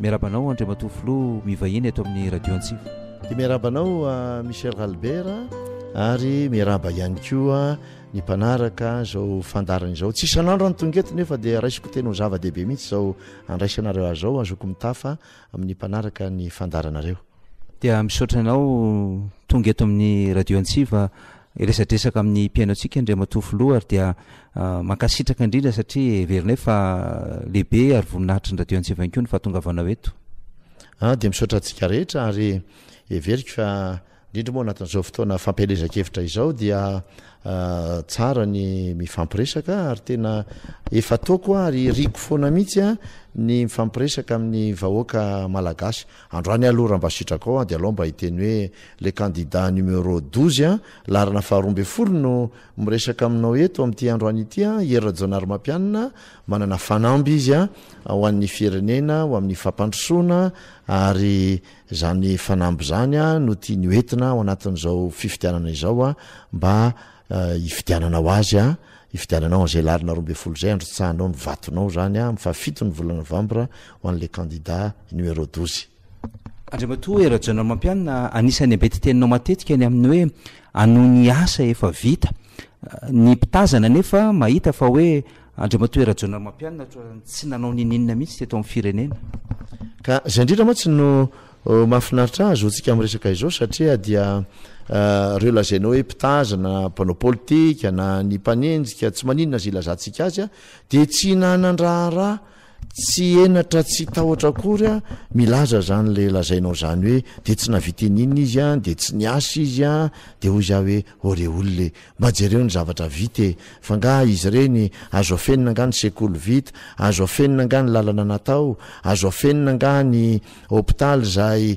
Miarahaba anao Andriamatoa Filoha mivahiny eto amin'ny Radio Antsiva. Dia miarahaba anao Michel Ralbert ary miarahaba ihany koa ny mpanaraka izao fandarana izao. Tsy isan'andro any tonga eto nefa dia raisiko teny ho zava-dehibe mihitsy izao andraisanareo azy izao, azoko mitafa amin'ny mpanaraka ny fandaranareo. Dia misaotra anao tonga eto amin'ny Radio Antsiva hiresadresaka amin'ny mpihaino antsika Andriamatoa Filoha ary dia Mankasitraka indrindra satria heverinay fa lehibe ary voninahitry ny Radio Antsiva ihany koa ny fahatongavanao eto. Ah, dia misaotra antsika rehetra ary heveriko fa indrindra moa anatin'izao fotoana fampielezan-kevitra izao dia ah, tsara ny mifampiresaka ary tena efa ataoko ary riko foana mihitsy ah, ny mifampiresaka amin'ny vahoaka malagasy. Androany aloha raha mba sitrakao ah, dia alao mba hiteny hoe le candidat numero douze ah, laharana faharoa ambin'ny folo no Miresaka aminao eto amin'ity androany ity an, Hery Rajaonarimampianina, manana fanamby izy an, ho an'ny firenena, ho amin'ny fampandrosoana, ary izany fanamby izany an, no tiany ho entina ao anatin'izao fifidianana izao an, mba hifidianana ho azy an, hifidianana anao izay alarina roa ambin'ny folo izay, handrotsahanao ny vatonao izany an, amin'ny fahafito ny volana novambra, ho an'ilay kandida numéro douze. Andriamatoa Hery Rajaonarimampianina, anisan'ny ambetin-teninao matetika ny amin'ny hoe hanohy ny asa efa vita. Ny mpitazana anefa mahita fa hoe Andriamatoa Hery Rajaonarimampianina ohatran'ny tsy nanao ninininona mihitsy teto amin'ny firenena. Ka izay indrindra mantsy no mahafinaritra ahy zoantsika miresaka izao satria dia ireo lazainao hoe mpitazana, mpanao politika na ny mpanenjika, tsy maninona izay ilazantsika azy, dia tsy nanan-draharaha Tsy henatra tsy tahotra akory an, milaza zany le lazainao zany hoe de tsy navita in'inona izy an, de tsy niasa izy an, de hoy za hoe ore olona e, mba jereo ny zavatra vita e, fa nga izy ireny azo afenina nga ny sekoly vita, azo afenina nga ny lalana natao, azo afenina nga ny hopitaly izay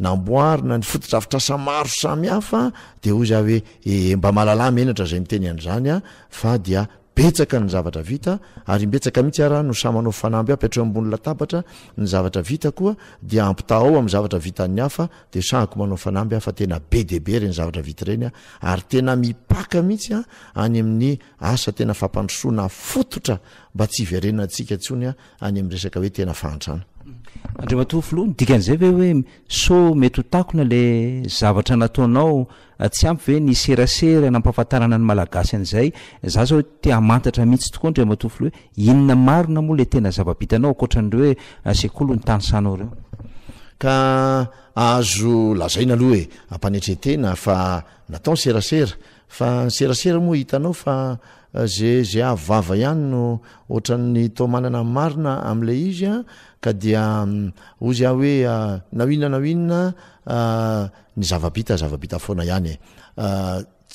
namboarina, ny fotodrafitrasa maro samy hafa, de hoy za hoe ee mba malalà menatra izay miteny an'izany an, fa dia Betsaka ny zavatra vita ary imbetsaka mihitsy ara no samy manao fanamby ampy hatreo ambony latabatra, ny zavatra vita koa dia ampitahao amin'ny zavatra vitan'ny hafa dia sahiko manao fanamby aho fa tena be dia be ireny zavatra vita ireny ary tena mipaka mihitsy any amin'ny asa tena fampandrosoana fototra mba tsy hiverenantsika intsony any amin'ny resaka hoe tena fahantrana. Andriamatoa Filoha, ny dikan'izay ve hoe sao mety ho takona ilay zavatra nataonao Tsy ampy ve ny serasera nampahafantarana ny Malagasy an'izay? Za zao te hamantatra mihitsy tokoa Andriamatoa Filoha hoe inona marina moa le tena zava-bitanao ankoatran'ireo hoe sekoly no tanisanao ireo? Ka azo lazaina aloha e, am-panetren-tena fa natao ny serasera, fa ny serasera moa hitanao fa ze ze avo vava ihany no ohatran'ny toa manana ny marina amin'ilay izy an, ka dia hozy aho hoe na inona na inona Ny zava-bita, zava-bita foana ihany e!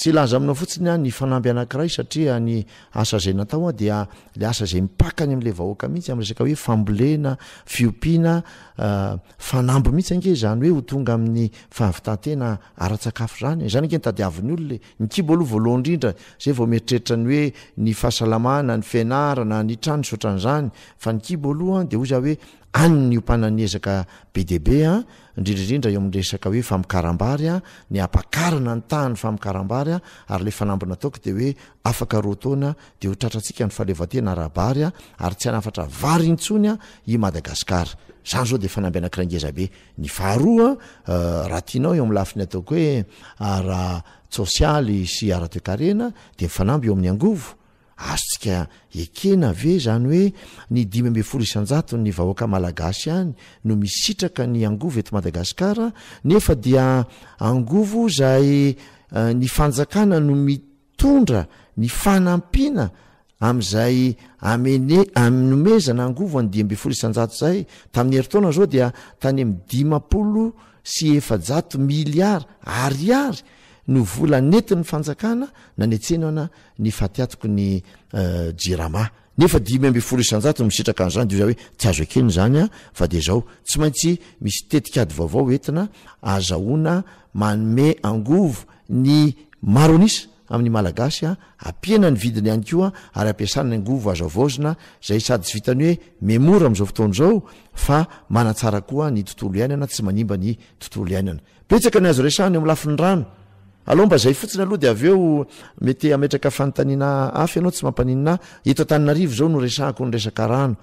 Tsy hilaza aminao fotsiny aho ny fanamby anankiray satria ny asa izay natao an, dia ilay asa izay mipaka any amin'ilay vahoaka mihitsy amin'ny resaka hoe fambolena, fiompiana, fanamby mihitsy ange izany hoe ho tonga amin'ny fahavitan-tena ara-tsakafo izany e! Izany ange no tadiavin'ny olona e! Ny kibo aloha voalohany indrindra, izay vao mieritreritra ny hoe ny fahasalamana, ny fianarana, ny trano, nisy ohatran'izany, fa ny kibo aloha dia hoy za hoe any ny hiompanan'ny ezaka be dia be an, indrindra indrindra eo amin'ny resaka hoe famokaram-bary a, ny hampakarana ny tahan'ny famokaram-bary a, ary ilay fanamby nataoko dia hoe afaka roa taona dia ho tratrantsika ny fahaleovantena ara-bary a, ary tsy hanafatra vary intsony a i Madagasikara. Izany izao dia fanamby anankiray ngeza be. Ny faharoa a, raha tianao eo amin'ny lafiny ataoko hoe ara-tsosialy sy ara-toekarena dia ny fanamby eo amin'ny angovo, Azontsika ekena ve izany hoe ny dimy ambin'ny folo isan-jaton'ny vahoaka malagasy ihany no misitraka ny angovo eto Madagasikara nefa dia angovo izay ny fanjakana no mitondra ny fanampiana amin'izay amene anomezana angovo an'ny dimy ambin'ny folo isan-jato izay tamin'ny herintaona izao dia tany amin'ny dimampolo sy efa-jato miliara ariary no vola nentin'ny fanjakana nanetsenana ny fatiatoky ny Jirama. Nefa dimy ambin'ny folo isan-jato no misitraka an'izany dia hoe tsy azo ekena izany fa dia izao tsy maintsy misy tetikady vaovao entina azahoana manome angovo ny maro an'isa amin'ny Malagasy, hampiena ny vidiny ihany koa ary hampiasana ny angovo azo havaozina izay sady tsy vitan'ny hoe memora amin'izao fotoana izao fa manatsara koa ny tontolo iainana, tsy manimba ny tontolo iainana. Betsaka ny azo resahana eo amin'ny lafiny rano. Alao mba zay fotsiny aloha dia avy eo mety hametraka fanontaniana hafa ianao tsy mampaninona ahy. Eto Antananarivo izao no resahako ny resaka rano.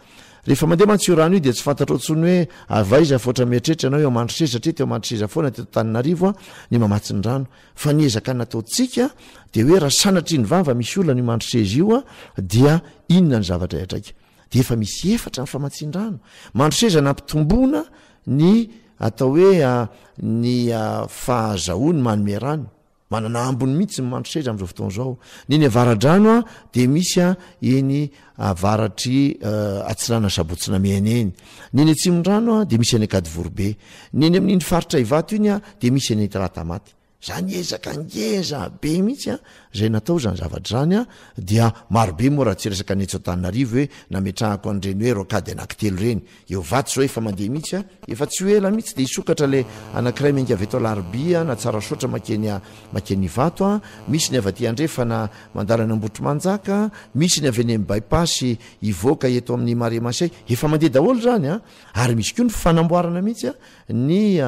Rehefa mandeha mantsy io rano io dia tsy fantatrao intsony hoe avy aiza fa ohatra mieritreritra ianao eo Mandroseza satria teo Mandroseza foana teto Antananarivo ny mamatsy ny rano. Fa ny ezaka nataontsika dia hoe raha sanatria ny vava misy olana io Mandroseza io dia inona ny zavatra hiatraika. Dia efa misy efatra ny famatsian-drano. Mandroseza nampitomboina ny. Atao hoe ny fahazahoany manome rano. Manana ambiny mihitsy ny mandry seza amin'izao fotoana izao. Ny eny Avaradrano dia misy eny avaratr'i Atsinanana Sabotsy-Namehana eny. Ny eny Atsimondrano dia misy any Ankadivoribe. Ny eny amin'iny faritra Ivato iny dia misy any Talata Maty. Zany ezaka ngeza be mihitsy a zay natao zany zavatra zany a dia marobe moa raha tsy resaka ny etsy Antananarivo hoe nametrahako an'ireny hoe rocade anaky telo ireny eo vato zao efa mandeha mihitsy a efa tsy ho ela mihitsy dia hisokatra le anakiray menga avy eto Alarobia na Tsarasaotra makeny a makeny Ivato a misy ny avy aty Andrefana mandalo any Ambohitrimanjaka misy ny avy eny amin'ny bypass hivoaka eto amin'ny Marais Masay efa mandeha daholo zany a ary misy koa ny fanamboarana mihitsy a Ny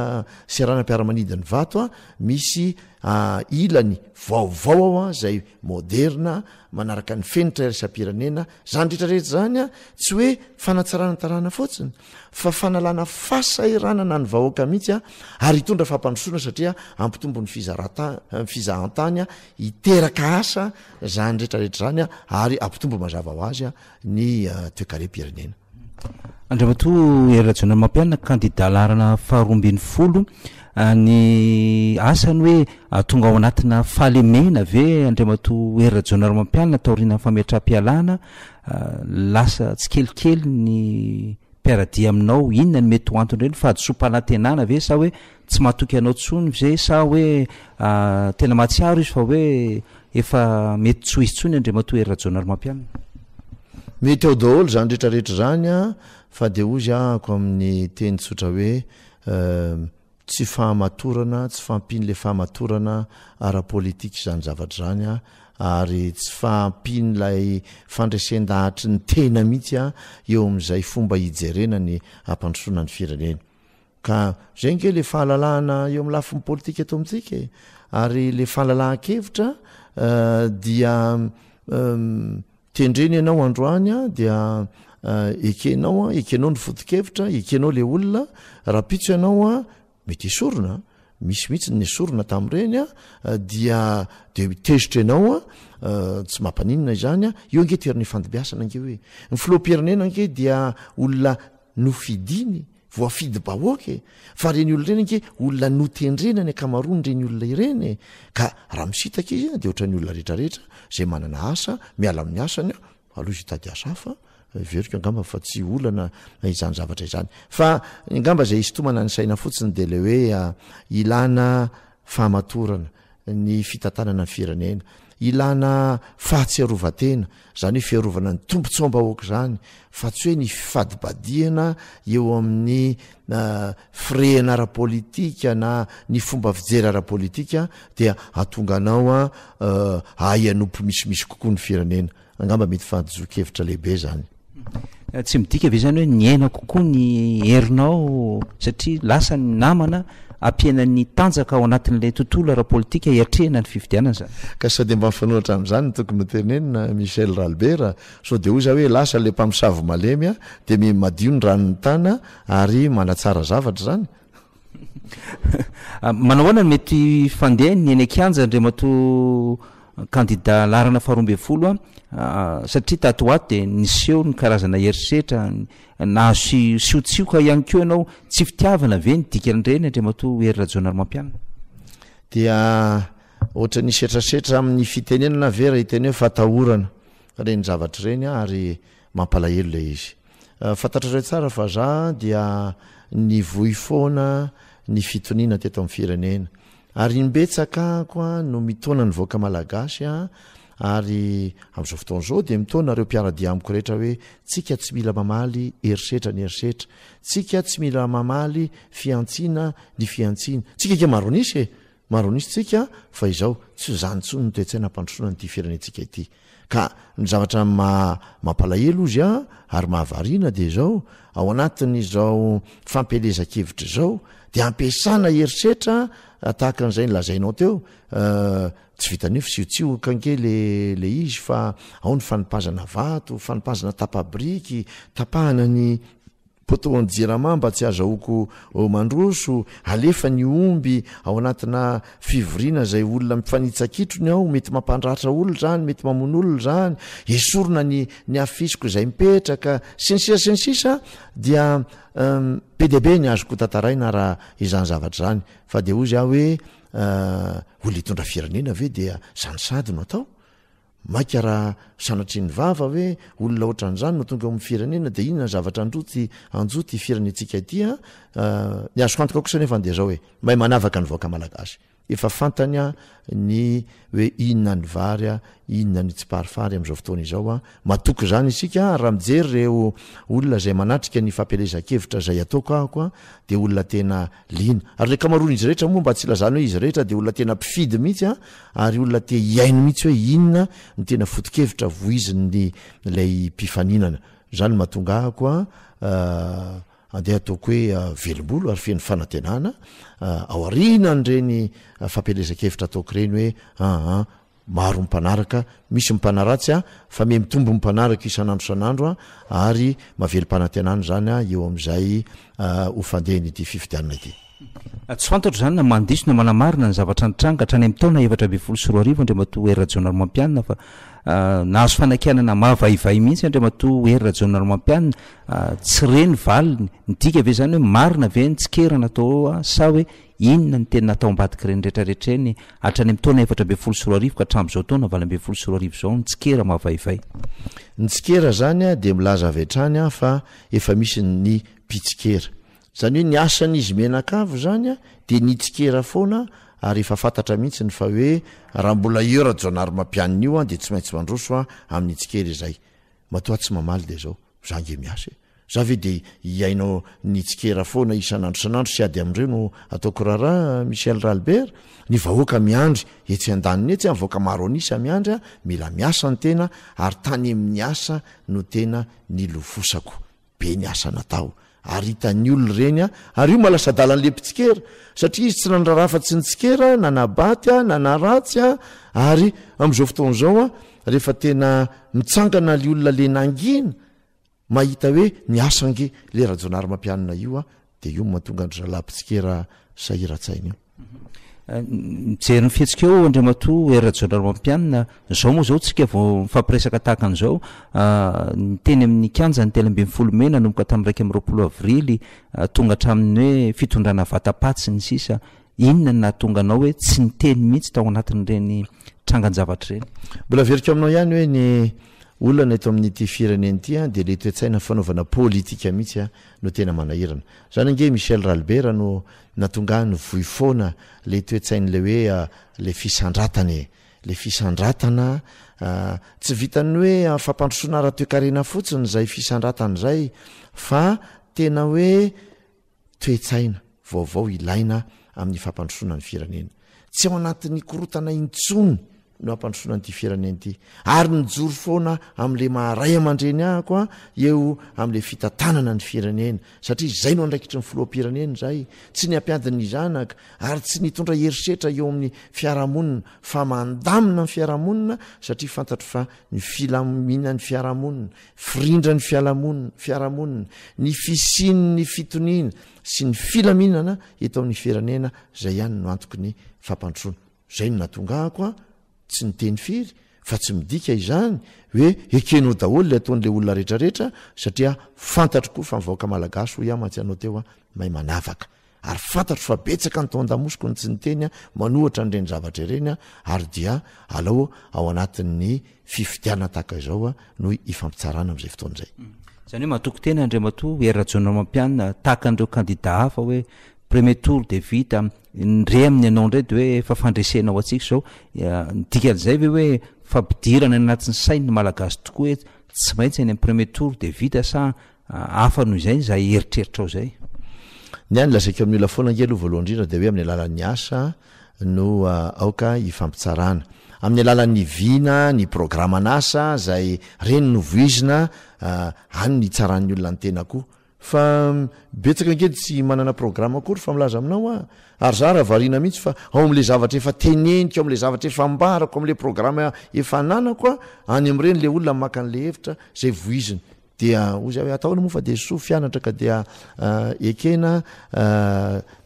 seranam-piaramanidin'i Vato misy ilany vaovao ao izay moderna manaraka ny fenitra iraisam-pirenena. Izany rehetra rehetra izany tsy hoe fanatsarana tarana fotsiny fa fanalana fahasahiranana ny vahoaka mihitsy ary hitondra fampandrosoana satria hampitombo ny fizahantany, hiteraka asa izany rehetra rehetra izany ary hampitombo mazava ho azy ny toekarem-pirenena. Andriamatoa Hery Rajaonamampianina, kandida laharana faharoa ambin'ny folo, ny asany hoe atonga ao anatina fahalemena ve Andriamatoa Hery Rajaonarimampianina taorianan'ny fametraham-pialana, lasa tsikelikely ny mpiara-dia aminao, inona no mety ho anton'ireny, fahadisoam-panantenana ve sa hoe Tsy matoky anao tsony ve sa hoe tena mahatsiaro izy fa hoe efa mety tsy ho izy tsony Andriamatoa Hery Rajaonarimampianina? Mety ao daholo izany rehetra rehetra izany fa dia hoy ako amin'ny teny tsotra hoe tsy fahamatorana, tsy fahampian'ilay fahamatorana ara-politika izany zavatra izany ary tsy fahampian'ilay fandresen-dahatry ny tena mihitsy eo amin'izay fomba hijerena ny hampandrosoana ny firenena. Ka zay nge le fahalalahana eo amin'ny lafiny politika eto amintsika e! Ary le fahalalahan-kevitra dia tendrena ianao androany a dia ekenao a ekenao ny foto-kevitra ekenao le olona rahampitso ianao a mety esorina misy mihitsy ny esorina tamin'ireny a dia de tezitra ianao a tsy mampaninona izany a eo ange toerana ifandimbiasana ange hoe ny filoham-pirenena ange dia olona Nofidiny, voafidy bahoaka e! Fa reny olona reny ange olona notendrena ny ankamaroany reny olona ireny e! Ka raha misitaka izy dia ohatran'ny olona rehetra rehetra izay manana asa, miala amin'ny asany aho aloha izy hitady asa hafa, heveriko angamba fa tsy olana izany zavatra izany. Fa ngamba izay hisintomana ny saina fotsiny dia ilay hoe ilana fahamatorana. ny fitantanana ny firenena. Ilana fahatsiarovan-tena, izany hoe fiarovana ny tombontsoam-bahoaka izany, fa tsy hoe ny fifadibadihana eo amin'ny firehana ara-politika na ny fomba fijery ara-politika dia hahatonga anao hahay hanompo misimisy kokoa ny firenena. Angamba mety fahadisoan-kevitra lehibe izany. Tsy midika ve izany hoe niaina kokoa ny herinao satria lasa ny namana ampiana ny tanjaka ao anatin'ilay tontolo ara-politika hiatrehina ny fifidianana izany? Ka sao dia mba mifanohitra hatramin'izany ny tokony hotenenina, Michel Ralbert a! Sao dia hoy izaho hoe lasa ilay mpamosavy malemy dia miha madio ny ranon'ny tana ary manatsara zavatra izany? Manao ahoana no mety fandeha ny eny an-kianja Andriamatoa kandida laharana faharoa ambin'ny folo a? satria tato ho ato dia niseho ny karazana herisetra, nahazo siotsioka ihany koa ianao, tsy fitiavana ve ny dikan'ireny Andriamatoa Hery Rajaonarimampianina? Dia ohatran'ny hisetrasetra amin'ny fitenenana ve raha hiteny hoe fatahorana ireny zavatra ireny ary mampalahelo ilay izy. Fantatrareo tsara fa za dia nivoy foana ny fitoniana teto amin'ny firenena. Ary imbetsaka koa no mitaona ny vahoaka malagasy aho ary amin'izao fotoana izao dia mitaona ireo mpiara-dia amiko rehetra hoe tsika tsy mila mamaly herisetra ny herisetra, tsika tsy mila mamaly fihantsiana ny fihantsiana, tsika ange maro an'isa e! Maron'izy tsika fa izao tsy ho zany tsony ny toetsaina hampandrosoana an'ity firenentsika ity. Ka ny zavatra maha mampalahelo ozy an ary mahavariana dia izao, ao anatin'izao fampielezan-kevitra izao dia ampiasana herisetra tahaka an'izay nolazainao teo, tsy vitan'io fisiotsioka ange le le izy fa ao ny fanipazana vato, fanipazana tapa-biriky, tapahana ny Poteau ny jirama mba tsy azahoako mandroso, alefa ny omby ao anatina fivoriana izay olona mifanitsa-kitro ny ao, mety mampandratra olona izany, mety mamono olona izany, esorina ny ny afisiko izay mipetraka, sy ny sisa sy ny sisa an! dia be dia be ny azoko hotantaraina raha izany zavatra izany fa dia hozy aho hoe olona hitondra firenena ve dia izany sady no atao? Maika raha sanatria ny vava hoe olona ohatran'izany no tonga ao amin'ny firenena dia inona ny zavatra anjo ty anjo ty firenentsika ity an? Ny azoko antoka kosa nefany dia izao e, mahay manavaka ny vahoaka malagasy. Efa fantany an ny hoe inona ny vary an, inona ny tsiparifary amin'izao fotoana izao an. Matoky izany isika an, raha mijery ireo olona izay manatrika ny fampielezan-kevitra izay ataoko ahako an dia olona tena Liana. Ary ny ankamaroan'izy rehetra moa, mba tsy hilazana hoe izy rehetra, dia olona tena mpifidy mihitsy an, ary olona te hihaino mihitsy hoe inona no tena foto-kevitra vohizin'ny ilay mpifaninana. Izany no mahatonga ahako an, andeha hataoko hoe velom-bolo ary feno fanantenana, an, ao aorianan'ireny fampielezan-kevitra ataoko ireny hoe an, an, Maro ny mpanaraka, misy ny mpanaratsy a, fa miha mitombo ny mpanaraka isan'andro isan'andro a, ary maverim-panantenana izany eo amin'izay ho fandehan'ity fifidianana ity. Tsy fantatro izany na mandiso na manamarina ny zavatra nitranga hatrany amin'ny taona efatra ambin'ny folo sy roa arivo, Andriamatoa Hery Rajaonarimampianina, fa nahazo fanakianana mahavaivay mihitsy Andriamatoa Hery Rajaonarimampianina, tsy re ny valiny, midika ve izany hoe marina ve ny tsikera natao eo sa hoe Inona no tena natao ambadik'ireny rehetra rehetra ireny hatrany amin'ny taona efatra ambin'ny folo sy roa arivo ka hatramin'izao taona valo ambin'ny folo sy roa arivo izao ny tsikera mavaivay? Ny tsikera izany dia milaza avy hatrany fa efa misy ny mpitsikera. Izany hoe ny asan'izy mianakavy izany dia ny hitsikera foana ary efa fantatra mihitsy ny fa hoe raha mbola io Rajaonarimampianina io dia tsy maintsy mandroso amin'ny tsikera izay matoa tsy mamaly dia izao. Za nge miasa e! Za ve dia hihaino ny tsikera foana isan'andro isan'andro sy ady amin'ireo no ataoko raharaha an! Michel Ralbert, ny vahoaka miandry etsy an-daniny etsy an! Vahoaka maro an'isa miandry an! Mila miasa ny tena ary tany amin'ny asa no tena nilofosako be ny asa natao Ary hitan'ny olona ireny ary io malasa-dalan'le mpitsikera satria izy tsy nandrara afa-tsy ny tsikera na nabaty na naratsy ary amin'izao fotoana izao rehefa tena mitsangana le olona le nangina mahita hoe niasa ange le Rajaonarimampianina io dia io no mahatonga an-dry zalahy mpitsikera sahiran-tsaina io. Mijery ny fihetsika eo Andriamatoa Hery Rajaonarimampianina, izao moa izao tsika vao mifampiresaka tahaka an'izao, ah, ny teny amin'ny kianjan'ny telo ambin'ny folo mey nanomboka tamin'ny iraika amby roapolo avrily ah, tonga hatramin'ny hoe fitondrana vata-paty sy ny sisa, inona no nahatonga anao hoe tsy niteny mihitsy tao anatin'ireny trangan-javatra ireny? Mbola averiko aminao ihany hoe ny olana eto amin'ity firenena ity an, dia ilay toe-tsaina fanaovana politika mihitsy an, no tena manahirana. Izany ange i Michel Ralbert no Na tonga any voi foana le toetsainy le hoe le fisandratana e! le fisandratana tsy vitan'ny hoe fampandrosoana ara-toekarena fotsiny zay fisandratana zay fa tena hoe toetsaina vaovao ilaina amin'ny fampandrosoana ny firenena. Tsy ao anatin'ny korotana intsony. no hampandrosoana an'ity firenena ity ary mijoro foana amin'le maha ray aman-dreny ahako a eo amin'le fitantanana ny firenena satria izay no andraikitry ny filoham-pirenena izay tsy ny hampiady ny zanaka ary tsy nitondra herisetra eo amin'ny fiarahamonina fa mandamina ny fiarahamonina satria fantatro fa ny filamina ny fiarahamonina firindra ny fialamonina fiarahamonina ny fisian' ny fitoniana sy ny filaminana eto amin'ny firenena izay ihany no antoky ny fampandrosoana Izay no nahatonga ahy koa tsy niteny firy fa tsy midika izany hoe ekenao daholo ilay ataon'ilay olona rehetrarehetra satria fantatro koa fa ny vahoaka malagasy hoy aho mantsy anao teo a may manavaka ary fantatro fa betsaka ny tao an-damosiko ny tsy niteny a manohatra an'ireny zavatra ireny a ary dia alao ao anatin'ny fifidianana tahaka izao no hifampitsarana amin'izay fotoana izay. Izany hoe matoky tena Andriamatoa Hery Rajaonarimampianina tahaka an'ireo kandidà hafa hoe premier tour dia vita, ny re amin'ny anao indray dia hoe efa fandresena ho antsika izao. Ny dikan'izay ve hoe fampidirana any anatin'ny sain'ny Malagasy tokoa hoe tsy maintsy any amin'ny premier tour dia vita sa hafa noho izay izay eritreritrao izay. Ny ahy ny lazaiko amin'ny olona foana ange aloha voalohany indrindra dia hoe amin'ny alalan'ny asa no aoka hifampitsarana. Amin'ny alalan'ny vina, ny programan'asa izay ireny no voizina any no hitsaran'ny olona ny tena koa. Fa betsaka ange tsy manana programa akory fa milaza aminao aho ary za raha variana mihitsy fa ao amin'ilay zavatra efa teneniko, ao amin'ilay zavatra efa ambarako, ao amin'ilay programa efa ananako aho, any amin'ireny ilay olona maka an'ilay hevitra izay voiziny. Dia hoy zay hoe, atahoana moa fa dia soa fianatra ka dia ekena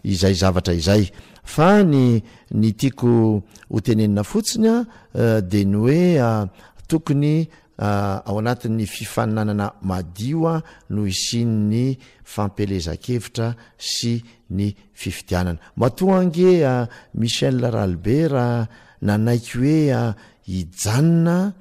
izay zavatra izay. Fa ny ny tiako ho tenenina fotsiny dia ny hoe tokony ao anatin'ny fifaninanana madio no hisian'ny fampielezan-kevitra sy ny fifidianana. Matoa ange Michel Ralibera nanaiky hoe hijanona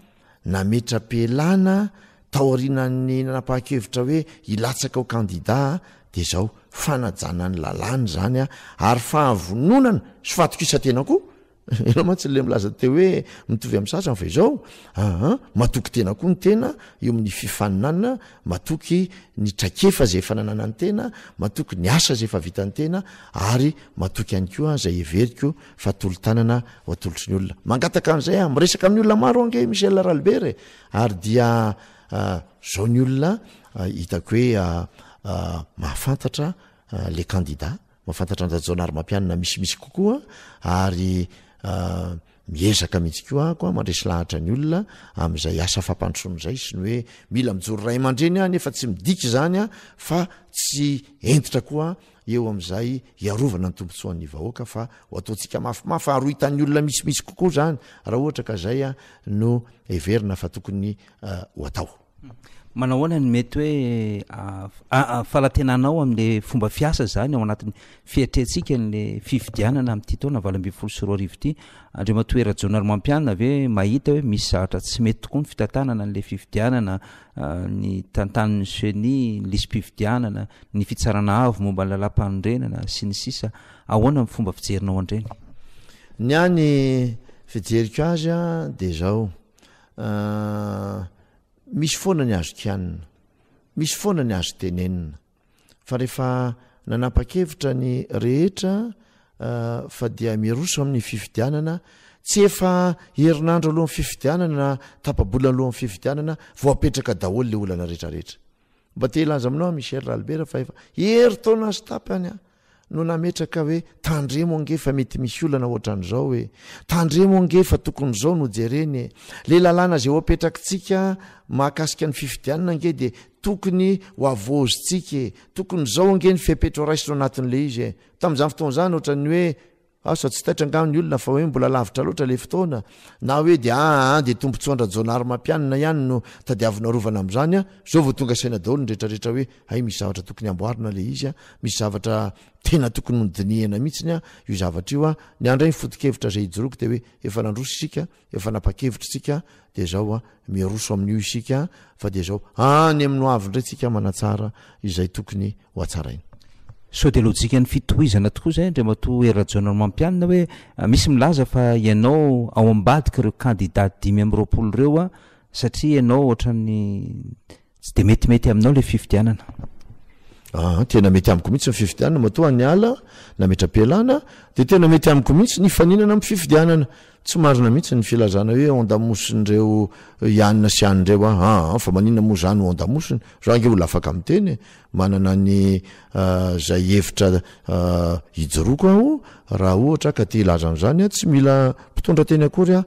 nametra-pialana taorianan'ny nanapahan-kevitra hoe hilatsaka ho kandidà dia izao, fanajana ny lalàna izany ary fahavononana sy fahatokisan-tena koa. Ianao mantsy ilay milaza teo hoe mitovy amin'ny sasany fa izao, aa, matoky tena koa ny tena eo amin'ny fifaninanana, matoky ny traikefa izay efa nananan'ny tena, matoky ny asa izay efa vitan'ny tena ary matoky ihany koa izay heveriko fa tolo-tanana ho atolotry ny olona mangataka an'izay a miresaka amin'ny olona maro ange michel ralibert e ary dia zao ny olona hitako hoe mahafantatra le kandida mahafantatra anjajaona ary mampianina misimisy kokoa ary miezaka mihitsy koa ako a mandresy lahatra ny olona amin'izay asa fampandrosoana izay sy ny hoe mila mijoro ray aman-dreny aho nefa tsy midika izany a fa tsy entitra koa eo amin'izay hiarovana ny tombotsoan'ny vahoaka fa ho ataontsika mafimafy fa harohitan'ny olona misimisy kokoa izany raha ohatra ka izay no heverina fa tokony ho atao. Manao ahoana ny mety hoe falantenanao amin'ilay fomba fiasa izany ao anatin'ny fietrentsika ny fifidianana amin'ity taona valo ambin'ny folo sy roa arivo ity? Andriamatoa Herajono Ranomampianina ve mahita hoe misy zavatra tsy mety tokoa ny fitantanana an'ilay fifidianana ny tantanin'ny ceni, ny lisi-pifidianana, ny fitsarana avo momba ny lalàmpanorenana, sy ny sisa Ahoana ny fomba fijerinao an-dreny? Ny ahy ny fijeriko azy a dia izao, misy foana ny azo kianina, misy foana ny azo tenenina, fa rehefa nanapa-kevitra ny rehetra fa dia miroso amin'ny fifidianana tsy efa herinandro alohan'ny fifidianana na tapabola alohan'ny fifidianana voapetraka daholo le olana rehetrarehetra mba te hilaza aminao michel ralbera fa efa hery taona sy tapy any a no nametraka hoe tandremo ange fa mety misy olana ohatran'izao e! tandremo ange fa tokony izao no jerena e! le lalàna izay ho apetrakitsika mahakasika ny fifidianana ange dia tokony ho havaozintsika e! tokony izao ange ny fepetra horaisina ao anatin'ilay izy e! tamin'izany fotoana izany ohatran'ny hoe Asa tsy taitra angaha ny olona fa hoe mbola lavitra loatra ilay fotoana na hoe dia aa dia tombotsoan-dRajaonarimampianina ihany no tadiavina arovana amin'izany an! Izao vao tonga saina daholo ny rehetrarehetra hoe hay misy zavatra tokony amboarina ilay izy an! Misy zavatra tena tokony nodinihana mihitsiny an! Io zavatra io an! Ny andray ny foto-kevitra izay ijoroako dia hoe efa nandroso isika an! Efa nanpa-kevitra isika dia izao an, miroso amin'io isika an, fa dia izao any amin'ny hoavy indray tsika manatsara izay tokony ho hatsaraina. Sao dia lojikan'ny fitohizana tokoa izay Andriamatoa Hery Rajaonarimampianina hoe misy milaza fa ianao ao ambadik'ireo kandida dimy amby roapolo ireo an, satria ianao ohatran'ny Tsy dia metimety aminao ilay fifidianana. Aa, tena mety amiko mihitsy ny fifidianana, matoa any ala, nametra-pialana, dia tena mety amiko mihitsy ny hifaninana amin'ny fifidianana. Tsy marina mihitsy ny filazana hoe ondamosin'ireo Ianina sy Any ireo aho. Aa, fa maninona moa izaho no ondamosiny? Izaho ange olona afaka miteny e! Manana ny izay hevitra hijoroako aho raha ohatra ka te hilaza an'izany aho. Tsy mila mpitondra teny akory aho.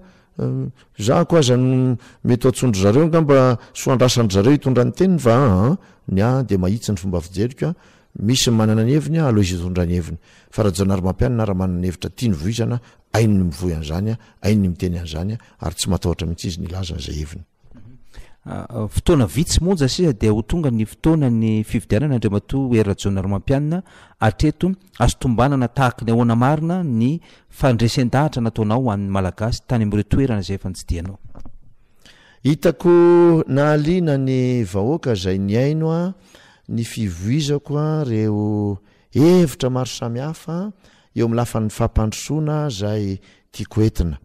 Zahako aza no mety ho antsoin-dry zareo angamba soa andrasan-dry zareo hitondra ny teniny fa aa ny ahy dia mahitsy ny fomba fijeriko an! misy ny manana ny heviny an! aleo izy hitondra ny heviny fa Rajaonarimampianina raha manana ny hevitra tiany voizana an! hainy ny mivoy an'izany an! hainy ny miteny an'izany an! ary tsy matahotra mihitsy izy ny hilaza izay heviny. Ah, fotoana vitsy monja sisa dia ho tonga ny fotoana ny fividianana andriamatoa hery rajaona romampianina atreto azo tombanana tahaka ny ahoana marina ny fandresen-dahatra nataonao ho an'ny malagasy tany amin'ireo toerana izay efa nitsidianao hitako nahaliana ny vahoaka izay niaino a ny fivoizako a reo hevitra maro samihafa eo amin'ny lafan'ny fampandrosoana izay tiako entina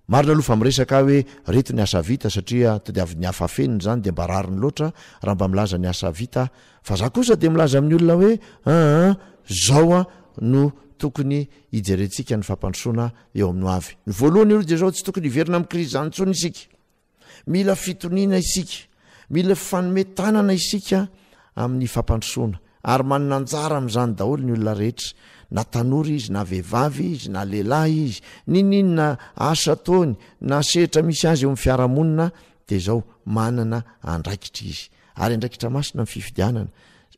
Marina aloha fa miresaka ahy hoe reto ny asa vita satria tadiavin'ny hafa afenina izany dia mba rariny loatra raha mba milaza ny asa vita aho fa za kosa dia milaza amin'ny olona hoe aa zao a no tokony hijerentsika ny fampandrosoana eo amin'ny hoavy ny voalohany aloha dia zao tsy tokony hiverina amin'ny krizy izany intsony isika Mila fitoniana isika, mila fifanome tanana isika amin'ny fampandrosoana ary manana anjara amin'izany daholo ny olona rehetra na tanora izy na vehivavy izy na lehilahy izy, niniana asa ataony na sehitra misy azy eo amin'ny fiarahamonina dia izao manana andraikitra izy. ary andraikitra masina ny fifidianana.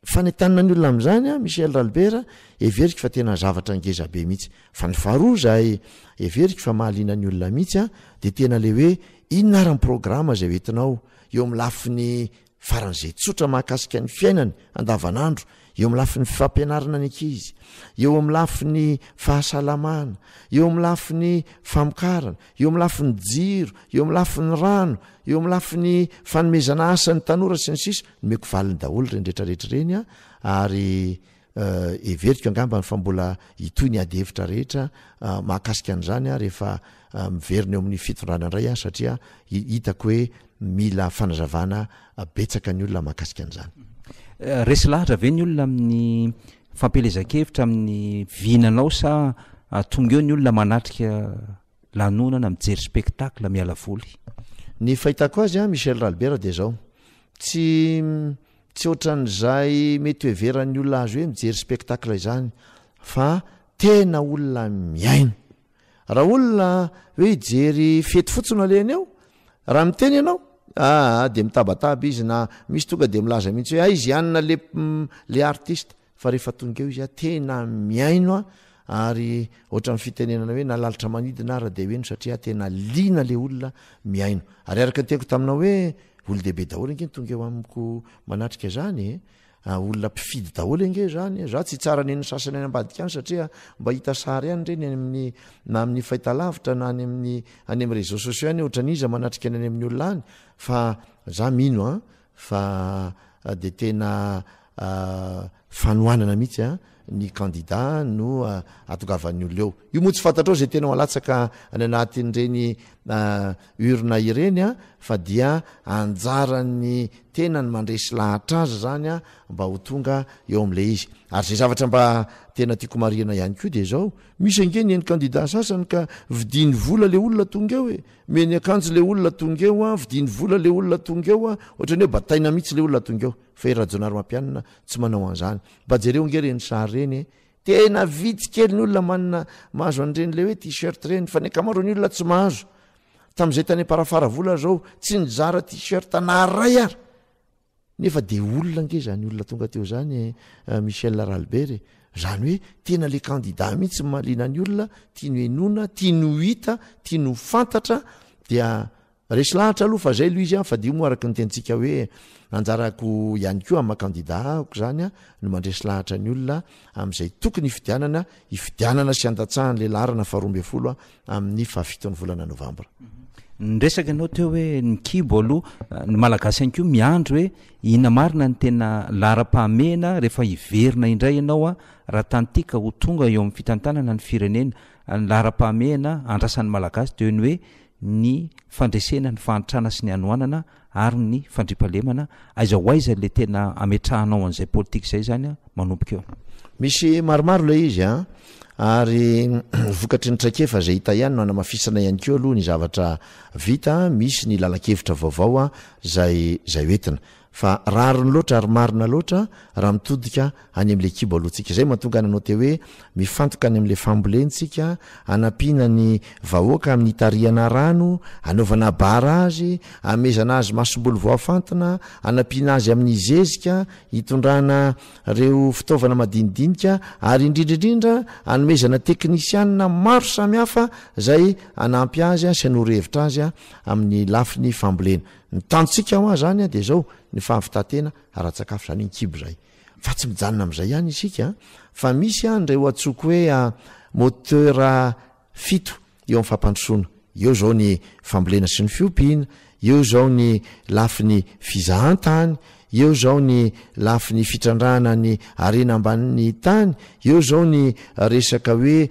Fanentanana ny olona amin'izany an, Michel Ralbert, heveriko fa tena zavatra ngeza be mihitsy. Fa ny faharoa izay heveriko fa mahaliana ny olona mihitsy an, dia tena ilay hoe inona ary ny programa izay hoentinao eo amin'ny lafiny faran'izay tsotra mahakasika ny fiainany andavanandro eo amin'ny lafiny fifampianarana ny ankizy, eo amin'ny lafiny fahasalamana, eo amin'ny lafiny famokarana, eo amin'ny lafiny jiro, eo amin'ny lafiny rano, eo amin'ny lafiny fanomezana asa ny tanora sy ny sisa nomeko valiny daholo ireny rehetra rehetra ireny a ary heveriko angambany fa mbola hitohy ny ady hevitra rehetra mahakasika an'izany a rehefa miverina eo amin'ny fitondrana indray a satria hitako hoe Mila fanazavana betsaka ny olona mahakasika an'izany. Resy lahatra ve ny olona amin'ny fampielezan-kevitra amin'ny vina anao sa tonga eo ny olona manatrika lanonana, mijery spectacle, miala voly? Ny fahitako azy an, Michel Ralbert dia izao, tsy tsy ohatran'izay mety hoheveran'ny olona azy hoe mijery spectacle izany fa tena olona mihaino. raha olona hoe hijery fety fotsiny alehany ao raha miteny ianao aa ah, de mitabataba izy na misy tonga de milaza mihitsy hoe aizy ah, ianina le mm, le artiste fa rehefa tonga eo izy a ah, tena miaino a ary ohatran'ny fitenenana hoe nalalitra manidina ara de hoeno satria tena liana le olona miaino ary araka teko taminao hoe olo dehibe daholo ange ny tonga eo amiko manatrika zany e Ah olona mpifidy daholo ange zany e, za tsy tsara nen'ny sasany any ambadika any satria mba hita sary any reny any amin'ny na amin'ny fahitalavitra na any amin'ny any amin'ny réseaux sociaux any ohatran'iza manatrika ny any amin'ny olona any fa za mino a fa de tena fanohanana mihitsy a ny kandida no atongavan'ny olona eo. Io moa tsy fantatrao izay tena alatsaka any anatin'ireny urne ireny fa dia anjaran'ny tena ny mandresy lahatra azy izany mba ho tonga eo amin'ilay izy. Ary izay zavatra mba tena tiako marihina ihany koa dia izao, misy ange ny eny kandida sasany ka vidiany vola ilay olona tonga eo e! Omeny akanjo ilay olona tonga eo, vidiany vola ilay olona tonga eo, ohatran'ny hoe bataina mihitsy ilay olona tonga eo. fa i Rajaonarimampianina tsy manao an'zany. Mba jereo nge reny sary reny e! Tena vitsy kely ny olona manana mahazo an'ireny le hoe t-shirt ireny fa ny ankamaroan'ny olona tsy mahazo. Tamin'izay tany Amparafaravola izao tsy nizara t-shirt na iray ary. Nefa de olona nge izany olona tonga teo izany e Michel Ralbert e! Izany hoe tena le candidat mihitsy no mahaliana ny olona, tiany ho henoina, tiany ho hita, tiany ho fantatra dia Resy lahatra aloha fa zay Louise a, fadio moa araka ny tenintsika hoe anjarako ihany koa maha candidat ahako zany a no mandresy lahatra ny olona amin'izay tokony hifidianana, hifidianana sy handatsahan'le laharana faharoa ambin'ny folo amin'ny fahafiton'ny volana novambra. Ny resaka anao teo hoe ny kibo aloha, ny malagasy ihany koa miandry hoe inona marina ny tena laharam-pahamehana rehefa hiverina indray ianao a, raha tantika ho tonga eo amin'ny fitantanana ny firenena, ny laharam-pahamehana andrasan'ny malagasy dia ny hoe ny fandresena ny fahantrana sy ny hanoanana ary ny fandriampahalemana, aiza ho aiza ilay tena ametrahanao an'izay politika izay izany an, manomboka eo. Misy maromaro ilay izy an, ary vokatry ny traikefa izay hita ihany no hanamafisana ihany koa aloha ny zavatra vita, misy ny lalan-kevitra vaovao an, izay izay hoentina. Fa rariny loatra ary marina loatra raha mitodika any amin'ilay kibo alohantsika. Izay mahatonga an'i Note hoe, Mifantoka any amin'ilay fambolentsika, hanampiana ny vahoaka amin'ny hitarihana rano, hanaovana barrage, hanomezana azy masomboly voafantina, hanampiana azy amin'ny zezika, hitondrana ireo fitaovana madinidinika, ary indrindra indrindra hanomezana teknisianina maro samihafa izay hanampy azy sy hanoro hevitra azy amin'ny lafiny fambolena. Ny tantsika hoa zany dia zao, ny fahavitan-tena ara-tsakafo zany ny kibo zay. Fa tsy mijanona amzay ihany isika fa misy an reo atsoiko hoe moteur fito eo am fampandrosoana, eo zao ny fambolena sy ny fiompiana, eo zao ny lafiny fizahantany, eo zao ny lafiny fitrandrahana ny harena ambanin'ny tany, eo zao ny resaka hoe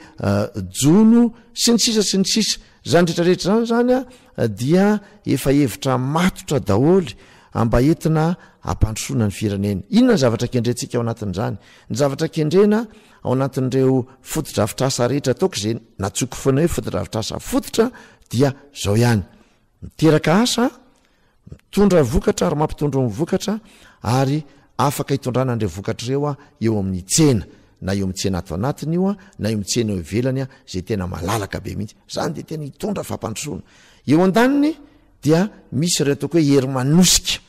jono sy ny sisa sy ny sisa. Zany retraretra zany zany an dia efa hevitra matotra daholo mba entina hampandrosoana ny firenena. Inona ny zavatra kendrentsika ao anatin'izany? Ny zavatra kendrena ao anatin'ireo fotodrafitrasa rehetra ataoko izay natsoiko foana hoe fotodrafitrasa fototra dia izao ihany, miteraka asa, Mitondra vokatra ary mampitondro ny vokatra ary afaka itondrana an'ireo vokatra ireo eo amin'ny tsena, na eo amin'ny tsena ato anatiny io na eo amin'ny tsena eo ivelany izay tena malalaka be mihitsy. Izany dia tena hitondra fampandrosoana. Eo andaniny dia misy ireo ataoko hoe hery manosika,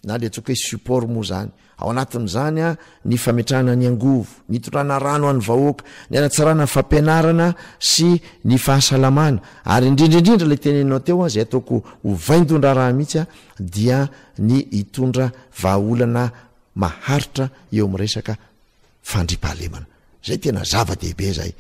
na ilay antsoiko hoe support moa izany. Ao anatin'izany ny fametrahana ny angovo, ny hitondrana rano ho an'ny vahoaka, ny hanatsarana ny fampianarana sy ny fahasalamana ary indrindra indrindra ilay teneninao teo izay ataoko ho vaindohan-draharaha mihitsy dia ny hitondra vahaolana maharitra eo amin'ny resaka fandriampahalemana. Zay tena zava-dehibe zay.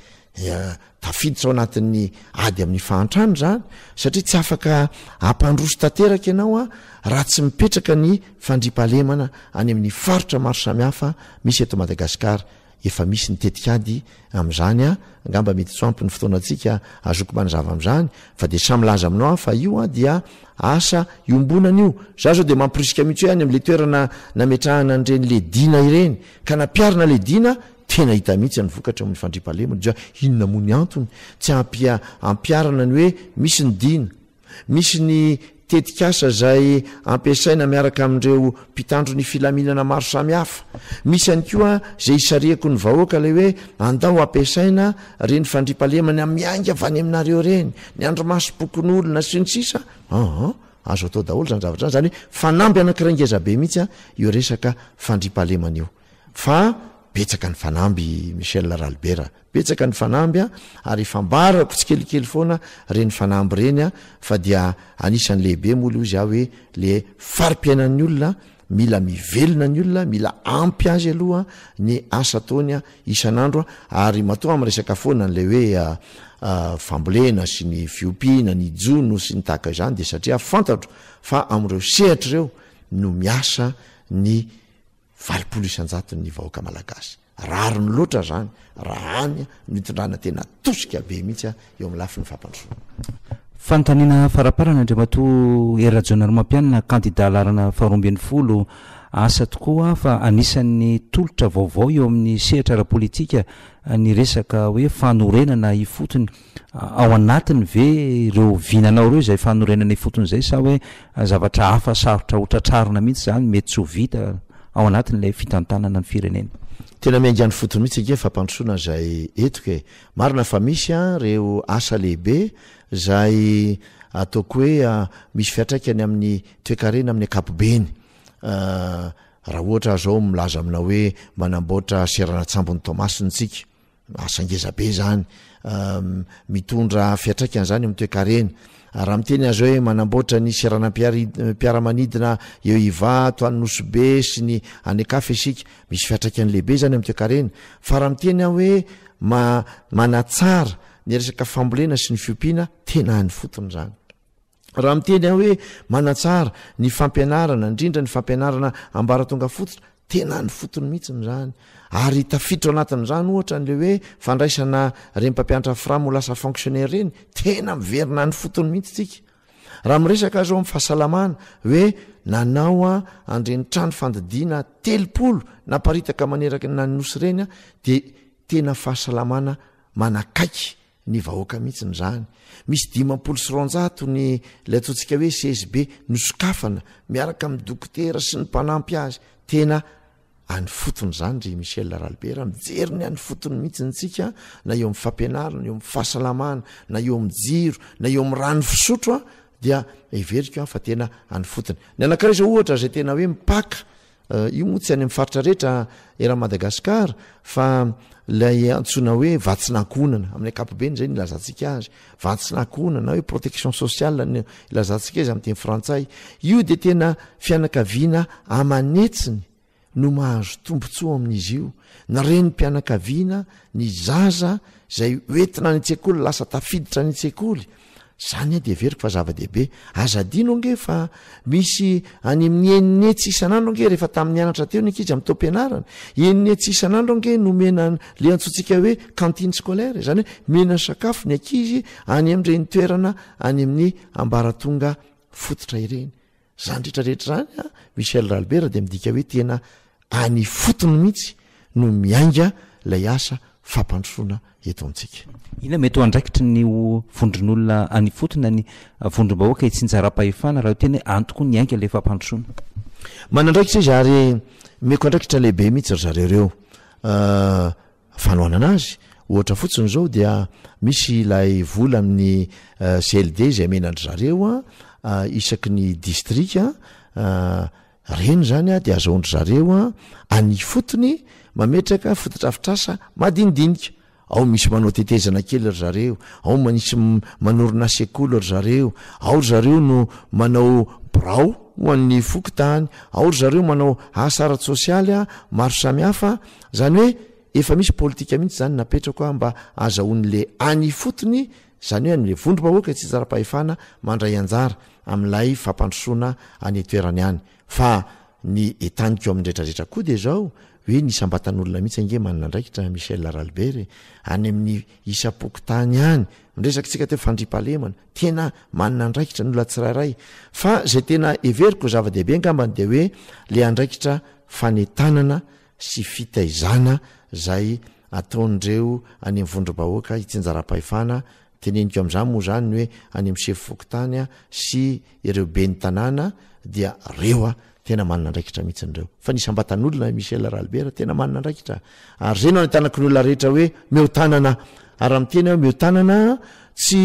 Tafiditra ao anatin'ny ady amin'ny fahantrana zany satria tsy afaka hampandroso tanteraka ianao raha tsy mipetraka ny fandriampahalemana any amin'ny faritra maro samihafa misy eto Madagasikara. Efa misy ny tetikady amin'izany angamba mety tsy ho ampy ny fotoanantsika azoko manazava amin'izany fa dia samy milaza aminao aho fa io dia asa iombonana io. Za zao dia mamporisika mihitsy hoe any amin'le toerana nametrahana an'ireny ledina ireny Ka nampiarina ilay Dina, tena hita mihitsy ny vokatra amin'ny fandriampahalemana, dia inona moa ny antony tsy ampia ampiarana ny hoe misy ny Dina, misy ny tetikasa izay ampiasaina miaraka amin'ireo mpitandro ny filaminana maro samihafa, misy ihany koa izay isarihako ny vahoaka ilay hoe andao ampiasaina ireny fandriampahalemana miainga avy any aminareo ireny, ny andrimasom-pokonolona sy ny sisa, aa. Azo atao daholo zany zavatra zany, zany hoe fanamby anakiray ngeza be mihitsy an io resaka fandriampahalemana io fa betsaka ny fanamby Michel Ralibera, betsaka ny fanamby an ary ifambarako tsikelikely foana reny fanamby reny an fa dia anisan'ny lehibe moa le ozy aho hoe le farim-piainan'ny olona Mila mivelona ny olona, mila ampy azy aloha ny asa ataony isan'andro ary matoa miresaka foana an'ilay hoe fambolena sy ny fiompiana, ny jono sy ny tahaka izany dia satria fantatro fa amin'ireo sehatra ireo no miasa ny valopolo isan-jaton'ny vahoaka malagasy. Rariny loatra zany raha any no hitondrana tena tosika be mihitsy eo amin'ny lafiny fampandrosoana. Fanontaniana faraparany Andriamatoa Hery Rajaonarimampianina kandida laharana faharoa ambin'ny folo Asa tokoa fa anisan'ny tolotra vaovao eo amin'ny sehatra ara-politika ny resaka hoe fanorenana ifotony Ao anatiny ve ireo vinanao ireo izay fanorenana ifotony izay sa hoe zavatra hafa sarotra ho tratrarina mihitsy izany, mety tsy ho vita ao anatin'ilay fitantanana ny firenena? Tena miainga any fotony mihitsy ange fampandrosoana izay hetoka e! Marina fa misy ireo asa lehibe izay ataoko hoe misy fiantraikany amin'ny toekarena amin'ny ankapobeny. Raha ohatra aho izao milaza aminao hoe manamboatra seranan-tsambon'i Toamasina isika. Asa ngeza be zany, mitondra fiatraikany zany eo amin'ny toekarena. Raha miteny azy hoe manamboatra ny seranam-piaramanidina eo Ivato, any Nosy-Be sy ny any an-kafa isika, misy fiatraikany lehibe zany eo amin'ny toekarena. Fa raha miteny aho hoe manatsara ny resaka fambolena sy ny fiompiana, tena any fotony zany. Raha miteny aho hoe manatsara ny fampianarana, indrindra ny fampianarana ambaratonga fototra, tena any fotony mihitsiny izany. Ary tafiditra ao anatin'izany ohatra an'ilay hoe fandraisana ireny mpampianatra fram ho lasa fonctionnaire ireny, tena miverina any fotony mihitsy tsika. Raha miresaka azy ao amin'ny fahasalamana hoe nanao a andreny trano fandidiana telopolo naparitaka maneraky ny nany nosy ireny dia tena fahasalamana manakaiky ny vahoaka mihitsy ny zany misy dimampolo sy ronjato ny lay ataontsika hoe csb nosokafana miaraka amin'ny dokotera sy ny mpanampy azy tena any fotony izany ry michel laralibera mijery ny any fotony mihitsy ntsika na eo amin'ny fampianarina eo amin'ny fahasalamana na eo amin'ny jiro na eo amin'ny rano fisotro a dia everiko an fa tena any fotony ny anakiraiza ohatra izay tena hoe mipaka Io moa tsy any amin'ny faritra rehetra eran'i Madagasikara fa ilay antsoina hoe vatsin'ankohonana, amin'ny ankapobeny izay no ilazantsika azy, vatsin'ankohonana na hoe protection sociale no ilazantsika azy amin'ny teny frantsay. Io dia tena fianakaviana aman'hetsiny no mahazo tombontsoa amin'izy io, ny renim-pianakaviana, ny zaza izay hoentina any an-tsekoly, lasa tafiditra any an-tsekoly. Zany aho de heveriko fa zava-dehibe. Aza adino ange fa misy any amin'ny enina hetsy isan'andro ange rehefa tamin'ny nianatra teo ny ankizy amin'ny taom-pianarana. Enina hetsy isan'andro ange no omena an'le antsointsika hoe cantine scolaire, izany hoe omena sakafo ny ankizy any amin'ireny toerana any amin'ny ambaratonga fototra ireny. zany retrarehetra zany a michel ralbert de midika hoe tena any fotony mihitsy no miainga lay asa fampandrosoana eto amintsika ina mety ho andraikitry ny ho vondron'olona any fotona ny vondrom-bahoaka itsinjaram-pahefana raha tena antoko ny ainga lay fampandrosoana manandraikitra izy ary meko andraikitra lehibe mihitsy ry zareo reo ah, fanohanana azy, ohatra fotsiny zao dia misy ilay vola amin'ny CLD izay amena an-dry zareo an, isaky ny distrika an, reny zany an dia azahoan-dry zareo an, any ifotony mametraka fotodrafitrasa madinidinika, ao misy manao tetezana kely ry zareo, ao manisy manorina sekoly ry zareo, ao ry zareo no manao birao ho an'ny fokontany, ao ry zareo manao asa ara-tsosialy maro samihafa Zany hoe efa misy politika mihitsy zany napetrako a mba azahoany le any ifotony zany hoe anle vondro bahoaka e tsitsara pahefana mandray anjara amilay fampandrosoana any etoerany any fa ny etaniko aminy retraretra koa de zao hoe ny isambatan'olona mihitsy ange manana andraikitra Michel Aralbert e any aminy isapokotany any miresaky tsika teo fandripalemana tena manana andraikitra ny olona tsirairay fa zay tena heveriko zava-dehibe angambany de hoe le andraikitra fanetanana sy fitaizana izay ataon'ireo any amin'ny vondrom-bahoaka itsinjaram-pahefana, teneniko amin'izany moa izany ny hoe any amin'ny sefo fokontany sy ireo ben'ny tanàna dia ireo tena manana andraikitra mihitsy ireo. Fa ny isam-batan'olona, Michel Ralbert, tena manana andraikitra ary izay no anentanako ny olona rehetra hoe mihoa-tanana ary raha miteny aho mihoa-tanana tsy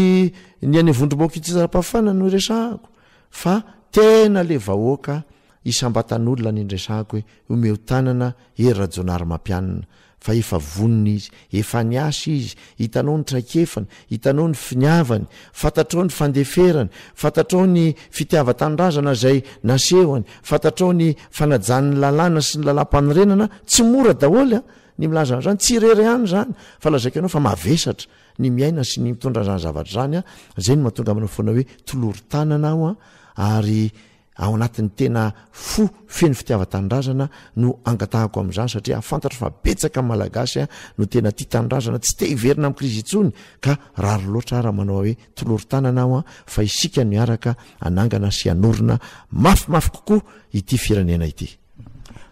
ny any amin'ny vondrom-bahoaka itsinjaram-pahefana no iresahako fa tena ilay vahoaka Isam-batan'olona ny niresahako hoe omeo tanana Hery Rajaonarimampianina fa efa vonona izy, efa niasa izy, hitanao ny traikefany, hitanao ny finiavany, fantatrao ny fandeferany, fantatrao ny fitiavan-tanindrazana izay nasehony, fantatrao ny fanajany ny lalàna sy ny lalàmpanorenana, tsy mora daholo an! ny milaza an'izany, tsy irery ihany izany fa lazaiko anao fa mavesatra ny miaina sy ny mitondra an'izany zavatra izany an! izay no mahatonga aminao foana hoe tolory tanana aho an! ary ao anatin'ny tena fo feno fitiavan-tanindrazana no angatahako amin'izany satria fantatro fa betsaka ny Malagasy no tena tia tanindrazana tsy te hiverina amin'ny krizy intsony ka rariny loatra raha manao hoe tolory tanana aho fa isika no hiaraka hanangana sy hanorina mafimafy kokoa ity firenena ity.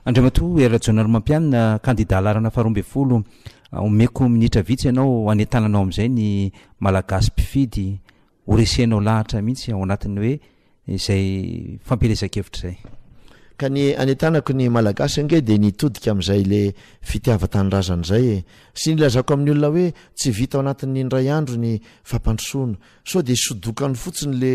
Andriamatoa Hery Rajaonarimampianina, kandida halarana faharoa ambin'ny folo, omeko minitra vitsy ianao hanentananao amin'izay ny Malagasy mpifidy Ho resenao lahatra mihitsy ao anatin'ny hoe izay fampielezan-kevitra izay. Ka ny anentanako ny Malagasy ange dia ny hitodika amin'izay le fitiavan-tanindrazana izay e! Sy ny ilazako amin'ny olona hoe tsy vita ao anatin'ny indray andro ny fampandrosoana. Sao dia sodokany fotsiny le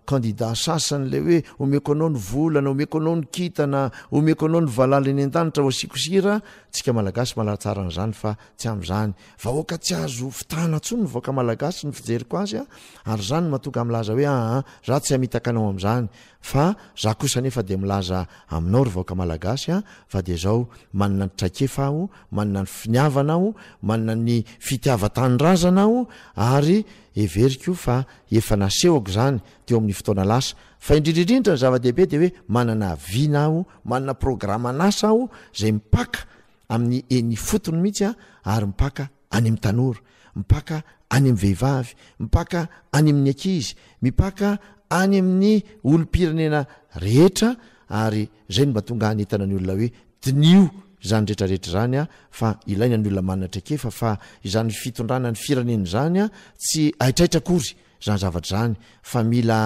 candidat sasany le hoe omeko anao ny vola na omeko anao ny kintana, omeko anao ny valala eny an-danitra ho asiako sira, tsika Malagasy malatsara an'izany fa tsy amin'izany. Vahoaka tsy azo fitahana tsony ny vahoaka malagasy ny fijeriko azy a, ary zany no mahatonga ahy milaza hoe aa za tsy hamitaka anao amzany fa za kosa nefa dia milaza aminao ry vahoaka malagasy a fa dia zao manana ny traikefa aho, manana ny finiavana aho, manana ny fitiavan-tanindrazana aho ary heveriko fa efa nasehoko zany teo amin'ny fotoana lasa fa indrindra indrindra ny zava-dehibe dia hoe manana vina aho, manana programan'asa aho zay mipaka amin'ny eny ifotony mihitsy a ary mpaka any amin'ny tanora, mpaka any amin'ny vehivavy, mpaka any amin'ny ankizy, mipaka any amin'ny olom-pirenena rehetra ary izay no mba tonga hanentana ny olona hoe diniho izany rehetrarehetra izany a fa ilaina ny olona manana traikefa fa izany fitondrana ny firenena izany a tsy haitraitra akory izany zavatra izany fa mila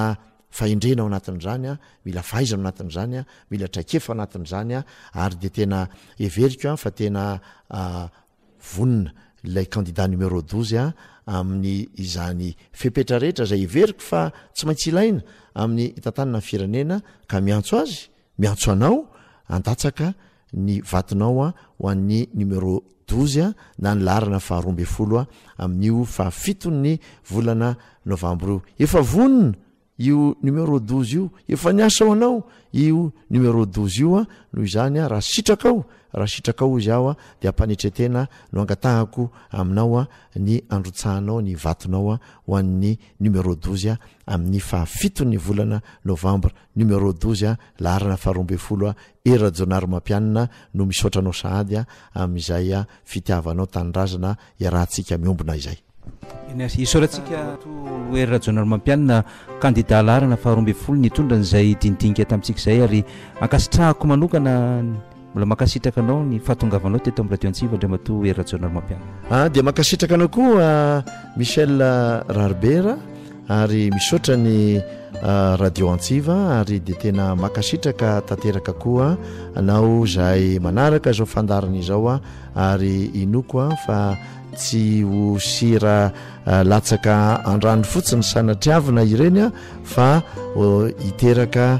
fahendrena ao anatin'izany a, mila fahaizana ao anatin'izany a, mila traikefa ao anatin'izany a, ary dia tena heveriko a fa tena vonona ilay candidat numéro douze a amin'ny izany fepetra rehetra izay heveriko fa tsy maintsy ilaina amin'ny hitantanana ny firenena ka miantso azy, miantso anao handatsaka ny vatonao ho an'ny numéro douze na ny laharana faharoa ambin'ny folo amin'io fahafiton'ny volana novambra io. Efa vonona io numéro douze io, efa niasa ho anao io numéro douze io, noho izany raha sitrakao, raha sitrakao izy aho dia am-panetren-tena no angatahako aminao ny androtsahanao ny vatonao ho an'ny numéro douze amin'ny fahafiton'ny volana novambra. Numéro douze a, laharana faharoa ambin'ny folo a, Hery Rajaonarimampianina no misaotra anao sahady a, amin'izay a, fitiavanao tanindrazana iarahantsika miombona izay. Merci. Isaorantsika an'Atoa Hery Rajaonarimampianina, kandida laharana faharoa ambin'ny folo nitondra an'izay dinidinika tamintsika izay ary ankasitrahako manokana ny. Mbola mankasitraka anao ny fahatongavanao teto amin'ny radio Antsiva Andriamatoa Hery Rajaonarimampianina. Ah, dia mankasitraka anao koa Michel Raribera ary misaotra ny ah, radio Antsiva ary dia tena mankasitraka tanteraka koa anao izay manaraka izao fandarana izao ah, ary inoako ah, fa tsy ho sira ah, latsaka andrany fotsiny sanatriavina ireny ah, fa oh, hiteraka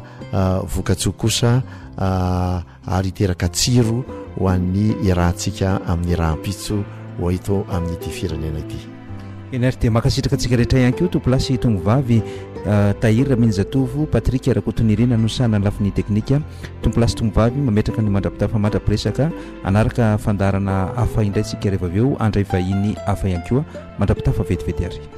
vokatsoa kosa ary hiteraka tsiro ho an'ny iarahantsika amin'ny rahampitso ho eto amin'ity firenena ity. Eny ary dia mankasitraka antsika rehetra ihany koa Tompolasy Tongovavy Tahiry Raminijatovo, Patrick Rakotonirina no sahy nanalafy ny teknika. Tompolasy Tongovavy mametraka ny mandrapitafa mandrapiresaka, hanaraka fandaharana hafa indray isika rehefa avy eo handray vahiny hafa ihany koa. Mandrapitafa vetivety ary.